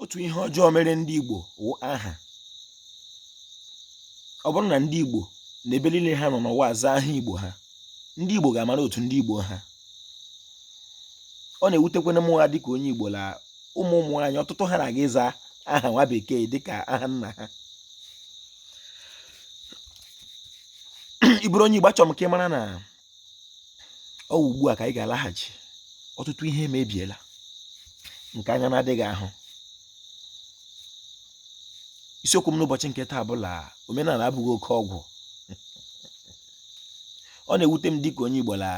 otu ihe ọjọọ mere ndị Igbo wụ aha ọ bụrụ na ndị Igbo na ebe niile ha nọ n'ụwa aza aha Igbo ha ndị Igbo ga-amara otu ndị Igbo ha ọ na-ewutekwanụ m ha dịka onye Igbo la ụmụ ụmụ nwaanyị ọtụtụ ha na-aga ịza aha nwa bekee dịka aha nna ha ị bụrụ onye Igbo achọrọ m ka ị mara na ọ wụ ugbu a ka anyị ga-alaghachi ọtụtụ ihe emebiela nke anya na-adịghị ahụ isiokwu m n'ụbọchị nke taa bụ la omenala abụghị oke ọgwụ ọ na-ewute m dịka onye Igbo la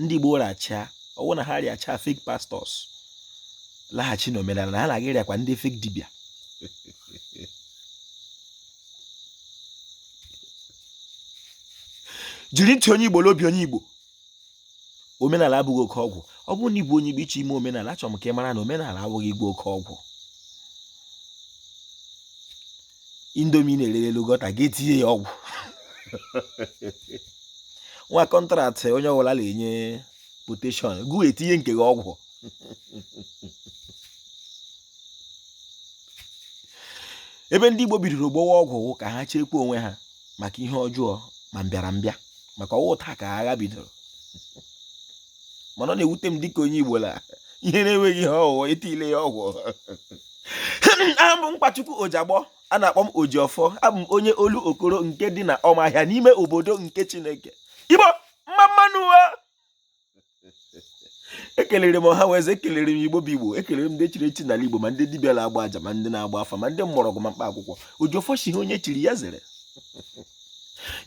ndị Igbo rịacha ọ wụ na ha rịacha fake pastors laghachi n'omenala na ha na-aga ịrịakwa ndị fake dibịa jiri ntị onye igbo n'obi onye igbo omenala abụghị oke ọgwụ ọ bụrụ na ị bụ onye igbo ị chọọ ime omenala achọrọ m ka ị mara na omenala abụghị ịgwọ oke ọgwụ Indomie ị na-ere ere ị gọta gị etinye ya ọgwụ nwa contract onye ọbụla na-enye quotation gị etinye nke gị ọgwụ ebe ndị Igbo bidoro gwọwa ọgwụ wụ ka ha chekwaa onwe ha maka ihe ọjọọ ma mbịara mbịa maka ọ wụ taa ka agha bidoro mana ọ na-ewute m dịka onye Igbo la ihe na-enweghị ihe ọ wụ etiele ya ọgwụ aha m bụ Nkwachukwu Ojagbọ a na-akpọ m Ojiọfọ abụ m onye Olokoro nke dị na Ọmahịa n'ime obodo nke Chineke Igbo mma mma nụ ekelere m ọha weze ekelere m igbo bụ igbo ekelere m ndị chiri echi n'ala igbo ma ndị dibịa na-agba aja ma ndị na-agba afa ma ndị mgbọrọgwụ ma mkpa akwụkwọ Ojiọfọ sị ihe onye chiri ya zere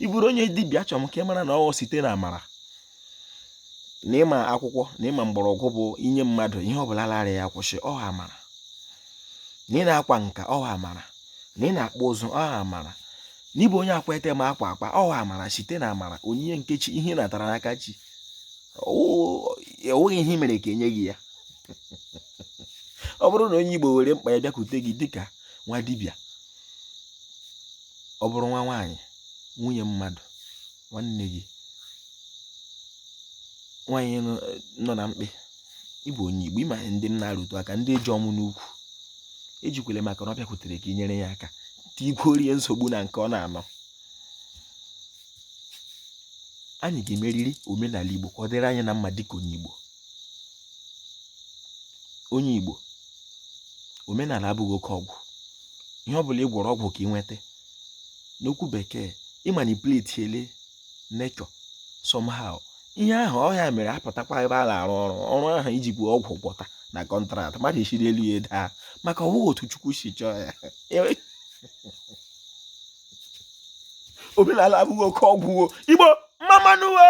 ị bụrụ onye dibịa chọrọ m ka ị mara na ọ wụ site na amara na ị ma akwụkwọ na ị ma mgbọrọgwụ bụ i nye mmadụ ihe ọbụla la-arịa ya kwụsị ọha amara na ị na-akwa nka ọha amara na ị na-akpụ ụzụ ọha amara na ị bụ onye akwa ete ma akwa akwa ọ wụ amara site na amara onyinye nke chi ihe ị natara n'aka chi enweghị ihe i mere ka e nye gị ya ọ bụrụ na onye igbo were mkpa ya bịakwute gị dịka nwa dibịa ọ bụrụ nwa nwaanyị nwunye mmadụ nwanne gị nwaanyị nọ na mkpe ị bụ onye Igbo ị ma ndị m na-arụtụ aka ndị eji ọmụ n'ukwu ejikwele maka na ọ bịakwutere ka i nyere ya aka tiikwuoro ya nsogbu na nke ọ na-anọ anyị ga-emeriri omenala Igbo ka ọ dịrị anyị na mma dịka onye Igbo onye Igbo omenala abụghị oke ọgwụ ihe ọ bụla ị gwọrọ ọgwụ ka ị nweta n'okwu bekee ị manipulatiele nature somehow ihe ahụ ọ ya mere apụtakwa ebe a na-arụ ọrụ ọrụ ahụ iji bụ ọgwụ gwọta na contract mmadụ esiri elu ya daa maka ọ bụghị otu chukwu si chọọ ya omenala abụghị oke ọgwụ o igbo mma mma nụ o